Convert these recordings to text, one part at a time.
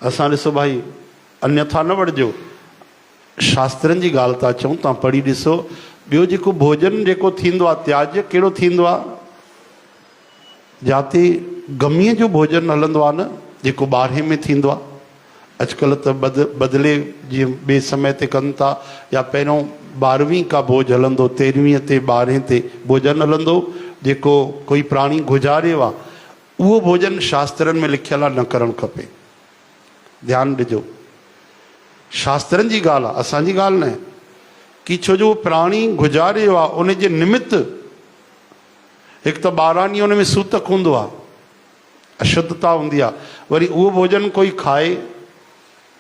اسان ڏسو ڀائي انيٿا نه وڙهجو شاسترن جي ڳالهه ٿا چئون توهان پڙهي ڏسو ٻيو جيڪو ڀوڄن جيڪو ٿيندو آهي تياجي ڪهڙو ٿيندو آهي جاتي گمي جو ڀوڄن هلندو آهي نه جيڪو ٻارهي ۾ ٿيندو آهي اڄڪلهه ته بد بدلي جي ٻي سمي تي ڪن ٿا يا پهريون ٻارهوين کا ڀوڄ هلندو تيرهوين تي ٻارهين تي ڀوڄن هلندو جيڪو ڪوئي پراڻي گذاريو آهي اهو ڀوڄن شاسترن ۾ لکيل آ نه ڪرڻ کپي ڌيان ڏجو شاسترن جي ڳالهه آ اسان جي ڳالهه ناهي ڪي ڇو جو پراڻي گهجا ريو آ ان جي نمت هڪ ته ٻارهن ڏينهن ان ۾ سوتڪ هوندو آ اشدتا هوندي آ وري اهو ڀوڄن ڪوئي کائي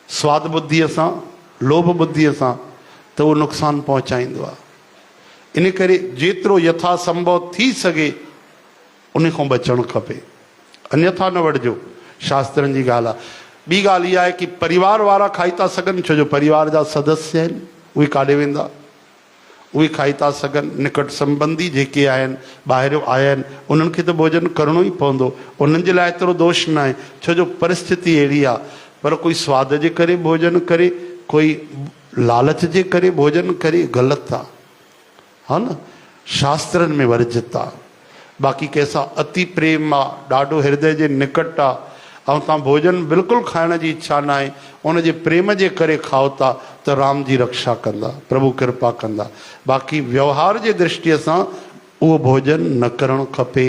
سواد ٻڌيء سان لوڀ ٻڌيء سان ته اهو نقصان پهچائيندو آ ان ڪري جيترو يٿا سنڀو ٿي سگهي ان کان بچڻ کپي انيٿا نه وڙهجو شاسترن جي ڳالهه آهي ٻي ڳالهه اها آهي ڪي پريوار وارا کائي ٿا سگهن ڇو جو پريوار جا سدسيه آهن اهي ڪاڏي ويندا اهي کائي ٿا سگهن نڪٽ سمبندي جيڪي آهن ٻاهريو آيا آهن انهن کي ته ڀوجن ڪرڻو ئي پوندو انهن جي لاء ايترو دوش ناهي ڇو جو پرستتي اهڙي آهي پر ڪوئي سواد جي ڪري ڀوجن ڪري ڪوئي لالچ جي ڪري ڀوجن ڪري غلط آهي. ها نه شاسترن ۾ ورجت آ باقي ڪنهن سان اتي پريم آ ڏاڍو هردئه جي نڪٽ آ ۽ توهان ڀوڄن بلڪل کائڻ جي اڇا ناهي ان جي پريم جي ڪري کائو ٿا ته رام جي رڪشا ڪندا پرڀو ڪرپا ڪندا باقي ويوهار جي درشٽي سان اهو ڀوڄن نه ڪرڻ کپي.